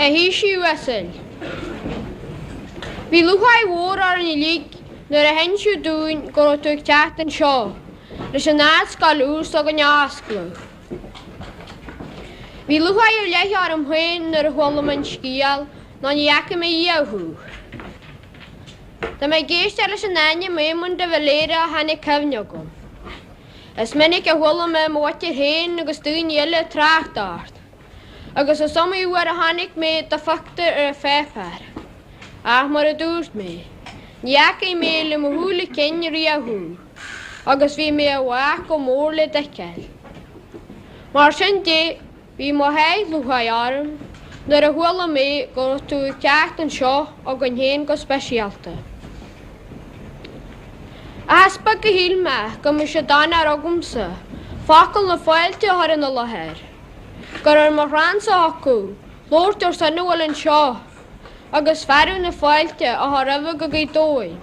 A Thaoisigh uasail. Bhí lúcháir mhór orainn uilig nuair a hinsíodh dúinn go raibh tú ag teacht anseo leis an Ardscoil úr s'againne a oscladh. Bhí lúcháir ar leith orm féin nuair a chuala mé an scéal, nó ní fhaca mé riamh thú. Tá mé ag éisteacht leis an ainm Éamonn de Valera ó tháinig cuimhne chugam. Is minic a chuala mé mo mháthair féin agus daoine eile ag trácht ort, agus is iomaí uair a chonaic mé do phictiúr ar an pháipéar. Ach mar a dúirt mé, ní fhaca mé le mo shúile cinn riamh thú, agus bhí mé i bhfách go mór le d'fheiceáil. Mar sin de, Bhí mo sháith lúcháire orm nuair a chuala mé go raibh tú ag teacht anseo chugainn féin go speisialta. Ach is beag a shíl mé go mbeadh sé d'onóir agamsa focal na fáilte a chur ina láthair, gur ar mo chrannsa a thiocfadh labhairt ar son a bhfuil anseo agus fearadh na fáilte a chur roimhe go Gaoth Dobhair.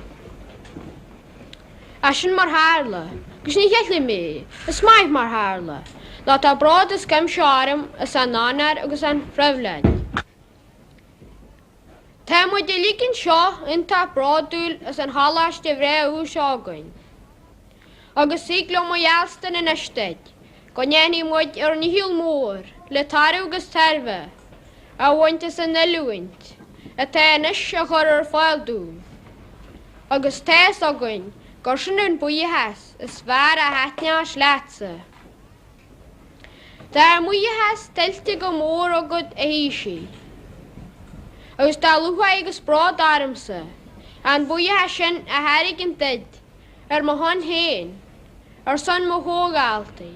Ach sin mar tharla, agus ní cheilim é, is maith mar tharla, nó tá bród as cuimse orm as an onóir agus an phribhléid. Tá muid uilig anseo iontach bródúil as an choláiste bhreá úr seo againn. Agus thig liom a gheallstan anois duit go ndéanfaidh muid ár ndícheall mór le toradh agus tairbhe a bhaint as an oiliúint atá anois á chur ar fáil dúinn, agus tá fhios againn gur sin an buíochas is fearr a thaitneos leatsa. Tá ár mbuíochas tuillte go mór agat a Thaoisigh, agus tá lúcháir agus bród ormsa an buíochas sin a thairgint duit Ar mo shon féin, ar son mo chomhdhaltaí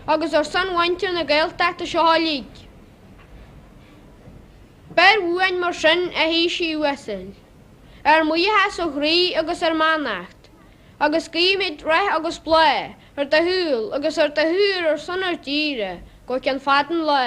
agus ar son mhuintir na Gaeltachta seo uilig, beir uainn mar sin, a Thaoisigh uasail, ár mbuíochas ó chroí agus ár mbeannacht, agus guímid rath agus bláth ar do shaol agus ar do shaothar ar son ár dtíre go ceann fada an lá.